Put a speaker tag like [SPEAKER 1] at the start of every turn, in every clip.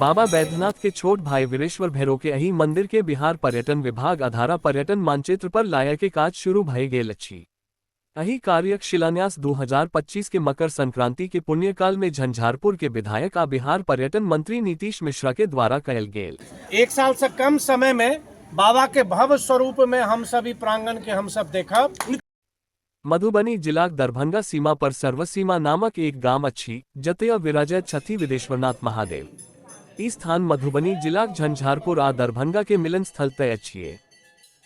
[SPEAKER 1] बाबा बैद्यनाथ के छोट भाई वीरेश्वर भैरो के अही मंदिर के बिहार पर्यटन विभाग आधारा पर्यटन मानचित्र पर लाया के काज शुरू भय गए लच्छी अही कार्य शिलान्यास 2025 के मकर संक्रांति के पुण्यकाल में झंझारपुर के विधायक आ बिहार पर्यटन मंत्री नीतीश मिश्रा के द्वारा कयल गेल एक साल से कम
[SPEAKER 2] समय में बाबा के भव्य स्वरूप में हम सभी प्रांगण के हम सब देखब
[SPEAKER 1] मधुबनी जिलाक दरभंगा सीमा पर सर्वसीमा नामक एक गाम अछि जतय विराजैत छथि विदेश्वरनाथ महादेव ई स्थान मधुबनी जिलाक झंझारपुर आ दरभंगा के मिलन स्थल तय अछि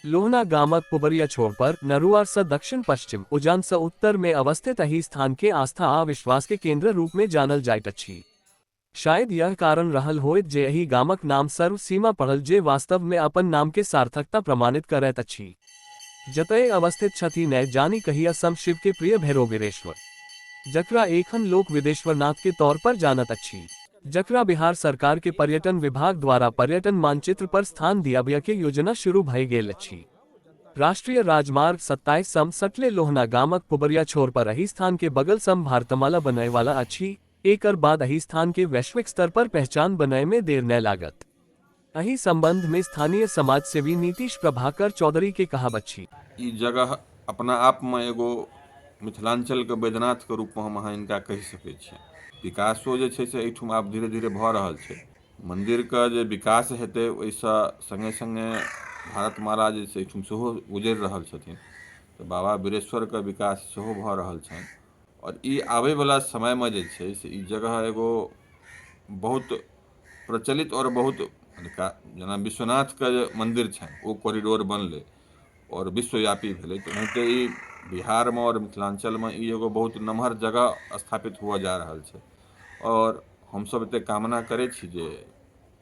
[SPEAKER 1] लोहना गामक पुबरिया छोर पर नरुआर से दक्षिण पश्चिम उजान से उत्तर में अवस्थित अही स्थान के आस्था आ विश्वास के केंद्र रूप में जानल जाइत अछि शायद यह कारण रहल होयत जे एहि गामक नाम सर्व सीमा पड़ल जे वास्तव मे अपन नाम के सार्थकता प्रमाणित करैत अछि। जतए अवस्थित छथि नै जानि कहिया सं शिव के प्रिय भैरोबीरेश्वर। जकरा एखन लोक विदेश्वरनाथ के तौर पर जानत अछि। जकरा बिहार सरकार के पर्यटन विभाग द्वारा पर्यटन मानचित्र पर स्थान दियाबय के योजना शुरू भए गेल अछि। राष्ट्रीय राजमार्ग सत्ताइस सं सटले लोहना गामक पुबरिया छोर पर एहि स्थान के बगल सं भारतमाला बनय वाला अछि। एकर बाद अही स्थान के वैश्विक स्तर पर पहचान बनाए में देर न लागत अही संबंध में स्थानीय समाज सेवी नीतीश प्रभाकर चौधरी के कहा बच्ची ई जगह
[SPEAKER 3] अपना आप में एगो मिथिलांचल के बैद्यनाथ के रूप में हम अहाँ इनका कहि सकैत छियै विकासो जे छै से एहिठुम आब धीरे धीरे भऽ रहल छै मंदिर के जे विकास हेतै ओहिसँ संगे संगे भारत माला जे छै एहिठुम सेहो गुजरि रहल छथिन तऽ बाबा बिरेश्वर के विकास सेहो भऽ रहल छनि आओर ई आबैवला समयमे जे छै से ई जगह एगो बहुत प्रचलित आओर बहुत हुनका जेना विश्वनाथके जे मन्दिर छनि ओ कॉरिडोर बनलै आओर विश्वव्यापी भेलै तऽ ओनाहिते ई बिहारमे आओर मिथिलाञ्चलमे ई एगो बहुत नमहर जगह स्थापित हुअ जा रहल छै आओर हमसभ एतेक कामना करै छी जे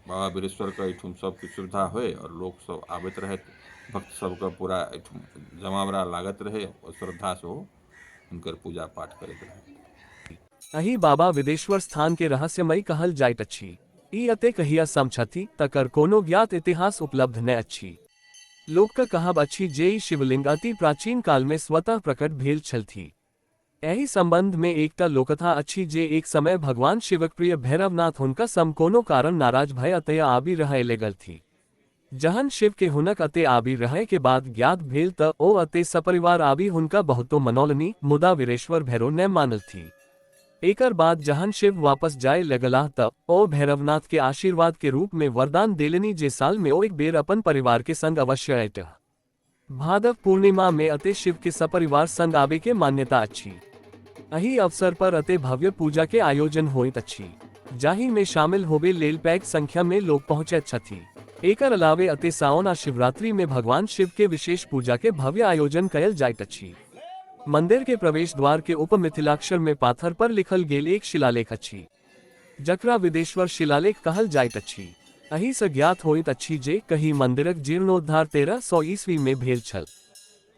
[SPEAKER 3] बाबा बिरेश्वरके एहिठुम सभकिछु सुविधा होय आओर लोकसभ आबैत रहथि भक्तसभके पूरा एहिठुम जमावड़ा लागैत रहय आओर श्रद्धासँ ओ हुनकर पूजा पाठ करैत रहथि अही बाबा विदेश्वर
[SPEAKER 1] स्थान के रहस्यमय कहल जाइत अछि ई अतेक हिया सम छथि तकर कोनो ज्ञात इतिहास उपलब्ध नहि अछि लोकक कहब अछि जे ई शिवलिंग अति प्राचीन काल में स्वतः प्रकट भेल छलथि एहि संबंध में एकटा लोकथा अछि जे एक समय भगवान शिवक प्रिय भैरवनाथ हुनका सम कोनो कारण नाराज भय अतय आबि रहय लगलथि जहन शिव के हुनक अते आबि रहय के बात ज्ञात भेल त ओ अते सपरिवार आबि हुनका बहुतो मनौलनि मुदा वीरेश्वर भैरो नै मानलथि। एकर बाद जहन शिव वापस जाए लगलाह त ओ भैरवनाथ के आशीर्वाद के रूप मे वरदान देलनि जे साल मे ओएक बेर अपन परिवार के संग अवश्य अएटह। भादव पूर्णिमा में अति शिव के सपरिवार संग आवे के मान्यता अछि अही अवसर पर अति भव्य पूजा के आयोजन होइत अछि जाहि में शामिल होबे लेल पैक संख्या में लोग पहुँचे छथि एकर अलावे अति सावन आ शिवरात्रि में भगवान शिव के विशेष पूजा के भव्य आयोजन कयल जाइत अछि मंदिर के प्रवेश द्वार के उप मिथिलाक्षर में पाथर पर लिखल गेल एक शिलालेख अछि जकरा विदेश्वर शिलालेख कहल जाइत अछि। अही स ज्ञात होइत अछि जे कही मंदिरक जीर्णोद्धार तेरह सौ ईस्वी मे भेल छल।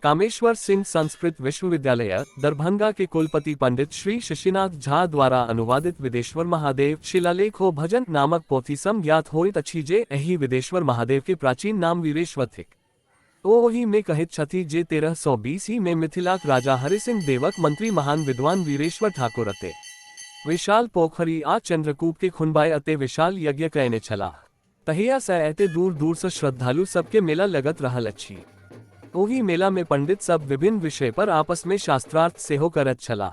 [SPEAKER 1] कामेश्वर सिंह संस्कृत विश्वविद्यालय, दरभंगा के कुलपति पंडित श्री शशिनाथ झा द्वारा अनुवादित विदेश्वर महादेव शिलालेख ओ भजन नामक पोथी सं ज्ञात होइत अछि जे एहि विदेश्वर महादेव के प्राचीन नाम वीरेश्वर थिक। ओ ओहि मे कहैत छथि जे तेरह सौ बीस ई मे मिथिलाक राजा हरिसिंह देवक मंत्री महान विद्वान वीरेश्वर ठाकुर अते विशाल पोखरि आ चंद्रकूप के खुनबाय अते विशाल यज्ञ कयने छलाह। तहिया सँ एते दूर दूर सँ श्रद्धालु सब के मेला लगत रहल अछि। ओहि मेला मे पंडित सब विभिन्न विषय पर आपस मे शास्त्रार्थ सेहो करैत छलाह।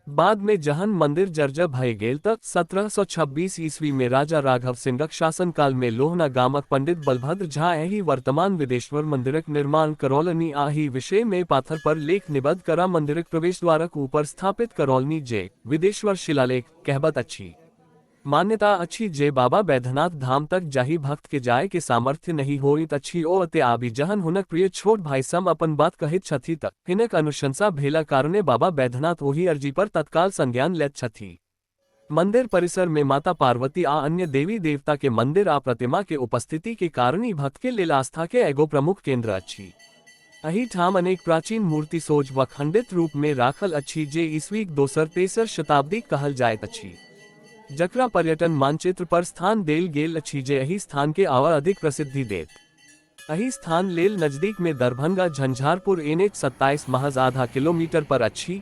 [SPEAKER 1] बाद में जहन मंदिर जर्जर भय गेल त 1726 ईस्वी में राजा राघव सिंहक शासनकाल में लोहना गामक पंडित बलभद्र झा एहि वर्तमान विदेश्वर मंदिरक निर्माण करौलनि आ एहि विषय में पाथर पर लेख निबद्ध करा मंदिरक प्रवेशद्वारक ऊपर स्थापित करौलनि जे विदेश्वर शिलालेख कहबत अछि मान्यता अछि जे बाबा बैद्यनाथ धाम तक जाहि भक्त के जाय के सामर्थ्य नहि होइत अछि ओ अते आबि जहन हुनक प्रिय छोट भाई सम अपन बात कहैत छथि त हिनक अनुशंसा भेला कारणे बाबा बैद्यनाथ ओहि अर्जी पर तत्काल संज्ञान लैत छथि। मंदिर परिसर में माता पार्वती आ अन्य देवी देवता के मंदिर आ प्रतिमा के उपस्थिति के कारण ई भक्त के लेल आस्था के एगो प्रमुख केंद्र अछि। अहिठाम अनेक प्राचीन मूर्ति सोझ व खंडित रूप में राखल अछि जे ईस्वीक दोसर तेसर शताब्दी कहल जायत अछि जकरा पर्यटन मानचित्र पर स्थान देल गेल अछि जे एहि स्थान के आवा अधिक प्रसिद्धि देत अहि स्थान लेल नजदीक में दरभंगा झंझारपुर एन एच सत्ताईस महज आधा किलोमीटर पर अच्छी